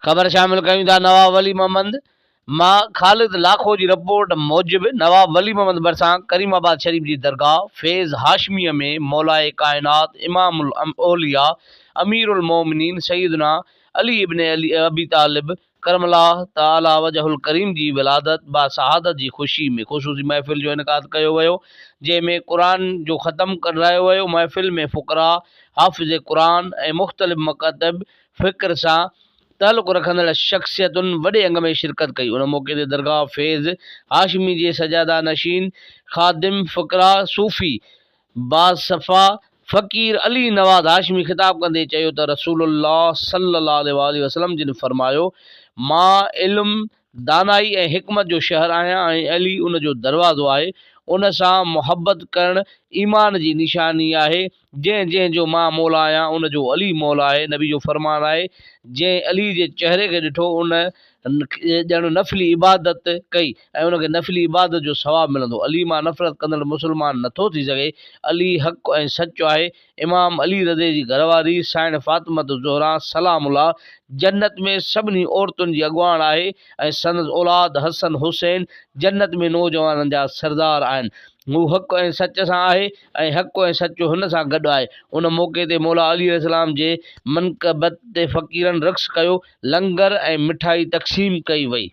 خبر شامل ڪيون ٿا نواب ولي محمد مان خالد لاکو جي رپورٽ موجب نواب ولي محمد ڀرسان ڪريم آباد شريف جي درگاهه فيض هاشميه ۾ مولائي ڪائنات امام الاولياء امير المومنين سيدنا علي ابن ابي طالب ڪرم الله تعالٰي وجه الڪريم جي ولادت با سعادت جي خوشي ۾ خصوصي محفل جو انعقاد ڪيو ويو جنهن ۾ قرآن جو ختم ڪرايو ويو محفل ۾ فقراء حافظ قرآن ۽ مختلف مڪاتب فڪر سان تعلق رکندڙ شخصيتن وڏي انگ ۾ شرڪت ڪئي ان موقعي تي درگاهه فيض هاشمي جي سجاده نشين خادم فقراء صوفي بعد صفا فقير علي نواز هاشمي خطاب ڪندي چيو ته رسول الله صلي الله عليه واٰله وسلم جن فرمايو، مان علم، دانائي ۽ حڪمت جو شهر آهيان ۽ علي ان جو دروازو آهي، ان سان محبت ڪرڻ ايمان جي نشاني آهي، جنهن جنهن جو مان مولا آهيان ان جو علي مولا آهي، نبي جو فرمان آهي، جنهن علي جي چهري کي ڏٺو ان ان کي ڄڻ نفلي عبادت ڪئي ۽ ان کي نفلي عبادت جو ثواب ملندو. علي مان نفرت ڪندڙ مسلمان نه ٿو ٿي سگهي. علي حق ۽ سچ آهي. امام علي رضه جي گهر واري سائڻ فاطمة الزهراء سلام الله جنت ۾ سڀني عورتن جي اڳواڻ آهي ۽ سندس اولاد حسن حسين جنت ۾ نوجوانن جا سردار آهن. هو حق ۽ سچ سان آهي ۽ حق ۽ سچ هن سان گڏ آهي. ان موقعي تي مولا علي عليه السلام جي منقبت تي فقيرن رقص ڪيو، لنگر ۽ مٺائي تقسيم ڪئي وئي.